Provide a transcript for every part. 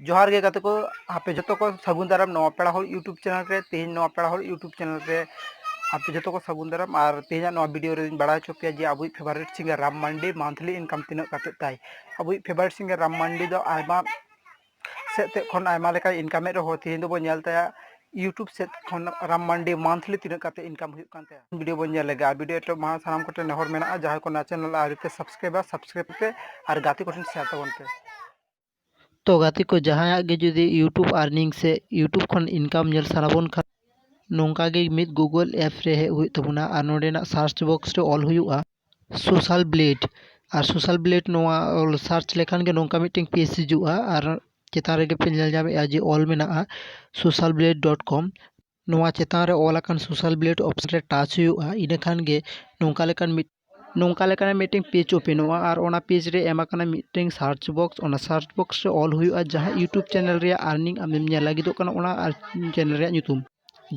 ᱡᱚᱦᱟᱨ ᱜᱮ ᱜᱟᱛᱮ ᱠᱚ ᱟᱯᱮ ᱡᱚᱛᱚ ᱠᱚ ᱥᱟᱹᱜᱩᱱ ᱫᱟᱨᱟᱢ ᱱᱚᱣᱟ ᱯᱮᱲᱟ ᱦᱚᱲ ᱤᱭᱩᱴᱩᱵᱽ ᱪᱮᱱᱮᱞ ᱨᱮ ᱛᱮᱦᱮᱧ ᱱᱚᱣᱟ ᱯᱮᱲᱟ ᱦᱚᱲ ᱤᱭᱩᱴᱩᱵᱽ ᱪᱮᱱᱮᱞ ᱨᱮ ᱟᱯᱮ ᱡᱚᱛᱚ ᱠᱚ ᱥᱟᱹᱜᱩᱱ ᱫᱟᱨᱟᱢ ᱟᱨ ᱛᱮᱦᱮᱧᱟᱜ ᱱᱚᱣᱟ ᱵᱷᱤᱰᱤᱭᱳ ᱨᱮᱧ ᱵᱟᱲᱟᱭ ᱦᱚᱪᱚ ᱯᱮᱭᱟ ᱡᱮ ᱟᱵᱚᱭᱤᱡ favourite singer Ram Mandi monthly income ᱛᱤᱱᱟᱹᱜ ᱠᱟᱛᱮᱫ ᱛᱟᱭ ᱟᱵᱚᱭᱤᱡ ᱯᱷᱮᱵᱟᱨᱮᱴ ᱥᱤᱝᱜᱟᱨ ᱨᱟᱢ ᱢᱟᱱᱰᱤ ᱫᱚ ᱟᱭᱢᱟ ᱥᱮᱫ ᱛᱮ ᱠᱷᱚᱱ ᱟᱭᱢᱟ ᱞᱮᱠᱟᱭ ᱤᱱᱠᱟᱢᱮᱫ ᱨᱮᱦᱚᱸ ᱛᱮᱦᱮᱧ ᱫᱚᱵᱚᱱ ᱧᱮᱞ ᱛᱟᱭᱟ ᱤᱭᱩᱴᱩᱵᱽ ᱥᱮᱫ ᱠᱷᱚᱱ ᱨᱟᱢ ᱢᱟᱱᱰᱤ ᱢᱟᱱᱛᱷᱞᱤ ᱛᱤᱱᱟᱹᱜ ᱠᱟᱛᱮᱫ ᱤᱱᱠᱟᱢ ᱦᱩᱭᱩᱜ ᱠᱟᱱ ᱛᱟᱭᱟ ᱵᱷᱤᱰᱤᱭᱳ ᱵᱚᱱ ᱧᱮᱞ ᱞᱮᱜᱮ ᱟᱨ ᱵᱷᱤᱰᱤᱭᱳ ᱮᱛᱚᱦᱚᱵ ᱢᱟᱲᱟᱝ ᱥᱟᱱᱟᱢ ᱠᱚᱴᱷᱮᱱ ᱱᱮᱦᱚᱨ ᱢᱮᱱᱟᱜᱼᱟ ᱡᱟᱦᱟᱸᱭ ᱠᱚ ᱱᱚᱣᱟ ᱪᱮᱱᱮᱞ ᱟᱹᱣᱨᱤ ᱯᱮ ᱥᱟᱵᱥᱠᱨᱟᱭᱤᱵᱟ ᱥᱟᱵᱥᱠᱨᱟᱭᱤᱵ ᱯᱮ ᱟᱨ ᱜᱟᱛᱮ ᱠᱚᱴᱷᱮᱱ ᱥᱮᱭᱟᱨ ᱛᱟᱵᱚᱱ ᱯᱮ ᱛᱚ ᱜᱟᱛᱮ ᱠᱚ ᱡᱟᱦᱟᱸᱭᱟᱜ ᱜᱮ ᱡᱩᱫᱤ ᱤᱭᱩᱴᱩᱵᱽ ᱟᱨᱱᱤᱝ ᱥᱮ ᱤᱭᱩᱴᱩᱵᱽ ᱠᱷᱚᱱ ᱤᱱᱠᱟᱢ ᱧᱮᱞ ᱥᱟᱱᱟ ᱵᱚᱱ ᱠᱷᱟᱱ ᱱᱚᱝᱠᱟ ᱜᱮ ᱢᱤᱫ ᱜᱩᱜᱩᱞ ᱮᱯᱥ ᱨᱮ ᱦᱮᱡ ᱦᱩᱭᱩᱜ ᱛᱟᱵᱚᱱᱟ ᱟᱨ ᱱᱚᱸᱰᱮᱱᱟᱜ ᱥᱟᱨᱪ ᱵᱚᱠᱥ ᱨᱮ ᱚᱞ ᱦᱩᱭᱩᱜᱼᱟ ᱥᱳᱥᱟᱞ ᱵᱞᱮᱰ ᱟᱨ ᱥᱳᱥᱟᱞ ᱵᱞᱮᱰ ᱱᱚᱣᱟ ᱚᱞ ᱥᱟᱨᱪ ᱞᱮᱠᱷᱟᱱ ᱜᱮ ᱱᱚᱝᱠᱟ ᱢᱤᱫᱴᱮᱱ ᱯᱮᱡᱽ ᱦᱤᱡᱩᱜᱼᱟ ᱟᱨ ᱪᱮᱛᱟᱱ ᱨᱮᱜᱮ ᱯᱮ ᱧᱮᱞ ᱧᱟᱢᱮᱜᱼᱟ ᱡᱮ ᱚᱞ ᱢᱮᱱᱟᱜᱼᱟ ᱥᱳᱥᱟᱞ ᱵᱞᱮᱰ ᱰᱚᱴ ᱠᱚᱢ ᱱᱚᱣᱟ ᱪᱮᱛᱟᱱ ᱨᱮ ᱚᱞ ᱟᱠᱟᱱ ᱥᱳᱥᱟᱞ ᱵᱞᱮᱰ ᱚᱯᱷᱥᱮᱱ ᱨᱮ ᱴᱟᱪ ᱦᱩᱭᱩᱜᱼᱟ ᱤᱱᱟᱹ ᱠᱷᱟᱱ ᱜᱮ ᱱᱚᱝᱠᱟ ᱞᱮᱠᱟᱱ ᱢᱤᱫ ᱱᱚᱝᱠᱟ ᱞᱮᱠᱟᱱᱟᱜ ᱢᱤᱫᱴᱮᱱ ᱯᱮᱡᱽ ᱳᱯᱮᱱᱚᱜᱼᱟ ᱟᱨ ᱚᱱᱟ ᱯᱮᱡᱽ ᱨᱮ ᱮᱢ ᱟᱠᱟᱱᱟ ᱢᱤᱫᱴᱮᱱ ᱥᱟᱨᱪ ᱵᱚᱠᱥ ᱚᱱᱟ ᱥᱟᱨᱪ ᱵᱚᱠᱥ ᱨᱮ ᱚᱞ ᱦᱩᱭᱩᱜᱼᱟ ᱡᱟᱦᱟᱸ ᱤᱭᱩᱴᱩᱵᱽ ᱪᱮᱱᱮᱞ ᱨᱮᱭᱟᱜ ᱟᱨᱱᱤᱝ ᱟᱢᱮᱢ ᱧᱮᱞ ᱞᱟᱹᱜᱤᱫᱚᱜ ᱠᱟᱱᱟ ᱚᱱᱟ ᱪᱮᱱᱮᱞ ᱨᱮᱭᱟᱜ ᱧᱩᱛᱩᱢ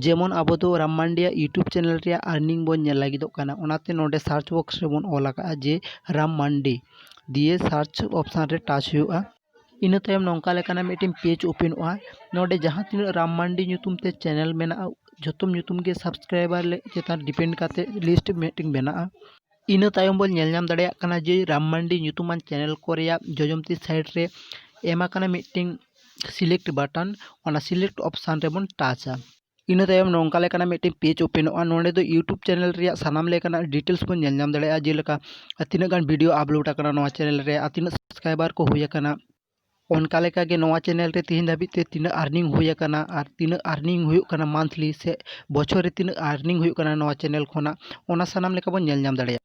ᱡᱮᱢᱚᱱ ᱟᱵᱚ ᱫᱚ ᱨᱟᱢ ᱢᱟᱱᱰᱤᱭᱟᱜ ᱤᱭᱩᱴᱩᱵᱽ ᱪᱮᱱᱮᱞ ᱨᱮᱭᱟᱜ ᱟᱨᱱᱤᱝ ᱵᱚᱱ ᱧᱮᱞ ᱞᱟᱹᱜᱤᱫᱚᱜ ᱠᱟᱱᱟ ᱚᱱᱟᱛᱮ ᱱᱚᱸᱰᱮ ᱥᱟᱨᱪ ᱵᱚᱠᱥ ᱨᱮᱵᱚᱱ ᱚᱞ ᱟᱠᱟᱫᱼᱟ ᱡᱮ ᱨᱟᱢ ᱢᱟᱱᱰᱤ ᱫᱤᱭᱮ ᱥᱟᱨᱪ ᱚᱯᱷᱥᱮᱱ ᱨᱮ ᱴᱟᱪ ᱦᱩᱭᱩᱜᱼᱟ ᱤᱱᱟᱹ ᱛᱟᱭᱚᱢ ᱱᱚᱝᱠᱟ ᱞᱮᱠᱟᱱᱟᱜ ᱢᱤᱫᱴᱮᱱ ᱯᱮᱡᱽ ᱳᱯᱮᱱᱚᱜᱼᱟ ᱱᱚᱰᱮ ᱡᱟᱦᱟᱸ ᱛᱤᱱᱟᱹᱜ ᱨᱟᱢ ᱢᱟᱱᱰᱤ ᱧᱩᱛᱩᱢ ᱛᱮ ᱪᱮᱱᱮᱞ ᱢᱮᱱᱟᱜᱼᱟ ᱡᱷᱚᱛᱚ ᱧᱩᱛᱩᱢ ᱜᱮ ᱥᱟᱵᱥᱠᱨᱟᱭᱵᱟᱨ ᱪᱮᱛᱟᱱ ᱰᱤᱯᱮᱱᱰ ᱠᱟᱛᱮ ᱞᱤᱥᱴ ᱢᱤᱫᱴᱮᱱ ᱵᱮᱱᱟᱜᱼᱟ ᱤᱱᱟᱹ ᱛᱟᱭᱚᱢ ᱵᱚᱱ ᱧᱮᱞ ᱧᱟᱢ ᱫᱟᱲᱮᱭᱟᱜ ᱠᱟᱱᱟ ᱡᱮ ᱨᱟᱢ ᱢᱟᱱᱰᱤ ᱧᱩᱛᱩᱢᱟᱱ ᱪᱮᱱᱮᱞ ᱠᱚ ᱨᱮᱭᱟᱜ ᱡᱚᱡᱚᱢ ᱛᱤ ᱥᱟᱭᱤᱰ ᱨᱮ ᱮᱢ ᱟᱠᱟᱱᱟ ᱢᱤᱫᱴᱮᱱ ᱥᱤᱞᱮᱠᱴ ᱵᱟᱴᱚᱱ ᱚᱱᱟ ᱥᱤᱞᱮᱠᱴ ᱚᱯᱷᱥᱮᱱ ᱨᱮᱵᱚᱱ ᱴᱟᱪᱟ ᱤᱱᱟᱹ ᱛᱟᱭᱚᱢ ᱱᱚᱝᱠᱟ ᱞᱮᱠᱟᱱᱟᱜ ᱢᱤᱫᱴᱮᱱ ᱯᱮᱡᱽ ᱳᱯᱮᱱᱚᱜᱼᱟ ᱱᱚᱸᱰᱮ ᱫᱚ ᱤᱭᱩᱴᱩᱵᱽ ᱪᱮᱱᱮᱞ ᱨᱮᱭᱟᱜ ᱥᱟᱱᱟᱢ ᱞᱮᱠᱟᱱᱟᱜ ᱰᱤᱴᱮᱞᱥ ᱵᱚᱱ ᱧᱮᱞ ᱧᱟᱢ ᱫᱟᱲᱮᱭᱟᱜᱼᱟ ᱡᱮᱞᱮᱠᱟ ᱟᱨ ᱛᱤᱱᱟᱹᱜ ᱜᱟᱱ ᱵᱷᱤᱰᱭᱳ ᱟᱯᱞᱳᱰ ᱟᱠᱟᱱᱟ ᱱᱚᱣᱟ ᱪᱮᱱᱮᱞ ᱨᱮ ᱟᱨ ᱛᱤᱱᱟᱹᱜ ᱥᱟᱵᱥᱠᱨᱟᱭᱵᱟᱨ ᱠᱚ ᱦᱩᱭ ᱟᱠᱟᱱᱟ ᱚᱱᱠᱟ ᱞᱮᱠᱟ ᱜᱮ ᱱᱚᱣᱟ ᱪᱮᱱᱮᱞ ᱨᱮ ᱛᱮᱦᱮᱧ ᱫᱷᱟᱹᱵᱤᱡ ᱛᱮ ᱛᱤᱱᱟᱹᱜ ᱟᱨᱱᱤᱝ ᱦᱩᱭ ᱟᱠᱟᱱᱟ ᱟᱨ ᱛᱤᱱᱟᱹᱜ ᱟᱨᱱᱤᱝ ᱦᱩᱭᱩᱜ ᱠᱟᱱᱟ ᱢᱟᱱᱛᱷᱞᱤ ᱥᱮ ᱵᱚᱪᱷᱚᱨ ᱨᱮ ᱛᱤᱱᱟᱹᱜ ᱟᱨᱱᱤᱝ ᱦᱩᱭᱩᱜ ᱠᱟᱱᱟ ᱱᱚᱣᱟ ᱪᱮᱱᱮᱞ ᱠᱷᱚᱱᱟᱜ ᱚᱱᱟ ᱥᱟᱱᱟᱢ ᱞᱮᱠᱟ ᱵᱚᱱ ᱧᱮᱞ ᱧᱟᱢ ᱫᱟᱲᱮᱭᱟᱜᱼᱟ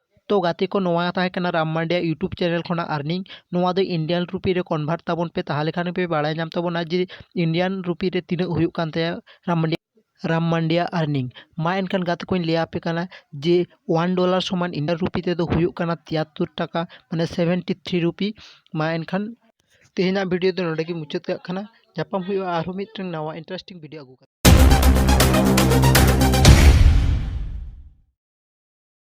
ᱛᱚ ᱜᱟᱛᱮ ᱠᱚ ᱱᱚᱣᱟ ᱛᱟᱦᱮᱸ ᱠᱟᱱᱟ ᱨᱟᱢ ᱢᱟᱱᱰᱤᱭᱟᱜ ᱤᱭᱩᱴᱩᱵᱽ ᱪᱮᱱᱮᱞ ᱠᱷᱚᱱᱟᱜ ᱟᱨᱱᱤᱝ ᱱᱚᱣᱟ ᱫᱚ ᱤᱱᱰᱤᱭᱟᱱ ᱨᱩᱯᱤ ᱨᱮ ᱠᱚᱱᱵᱷᱟᱨᱴ ᱛᱟᱵᱚᱱ ᱯᱮ ᱛᱟᱦᱚᱞᱮ ᱠᱷᱟᱱ ᱜᱮᱯᱮ ᱵᱟᱲᱟᱭ ᱧᱟᱢ ᱛᱟᱵᱚᱱᱟ ᱡᱮ ᱤᱱᱰᱤᱭᱟᱱ ᱨᱩᱯᱤ ᱨᱮ ᱛᱤᱱᱟᱹᱜ ᱦᱩᱭᱩᱜ ᱠᱟᱱ ᱛᱟᱭᱟ ᱨᱟᱢ ᱢᱟᱱᱰᱤ ᱨᱟᱢ ᱢᱟᱱᱰᱤᱭᱟᱜ ᱟᱨᱱᱤᱝ ᱢᱟ ᱮᱱᱠᱷᱟᱱ ᱜᱟᱛᱮ ᱠᱚᱧ ᱞᱟᱹᱭ ᱟᱯᱮ ᱠᱟᱱᱟ ᱡᱮ ᱚᱣᱟᱱ ᱰᱚᱞᱟᱨ ᱥᱚᱢᱟᱱ ᱤᱱᱰᱤᱭᱟᱱ ᱨᱩᱯᱤ ᱛᱮᱫᱚ ᱦᱩᱭᱩᱜ ᱠᱟᱱᱟ ᱛᱤᱭᱟᱛᱛᱳᱨ ᱴᱟᱠᱟ ᱢᱟᱱᱮ ᱥᱮᱵᱷᱮᱱᱴᱤ ᱛᱷᱨᱤ ᱨᱩᱯᱤ ᱢᱟ ᱮᱱᱠᱷᱟᱱ ᱛᱮᱦᱮᱧᱟᱜ ᱵᱷᱤᱰᱤᱭᱳ ᱫᱚ ᱱᱚᱰᱮ ᱜᱮ ᱢᱩᱪᱟᱹᱫ ᱠᱟᱜ ᱠᱟᱱᱟ ᱧᱟᱯᱟᱢ ᱦᱩᱭᱩᱜᱼᱟ ᱟᱨᱦᱚᱸ ᱢᱤᱫᱴᱟᱝ ᱱᱟᱣᱟ ᱤᱱᱴᱟᱨᱮᱥᱴᱤᱝ ᱵᱷᱤᱰᱤᱭᱳ ᱟᱹᱜᱩ ᱠᱟᱛᱮ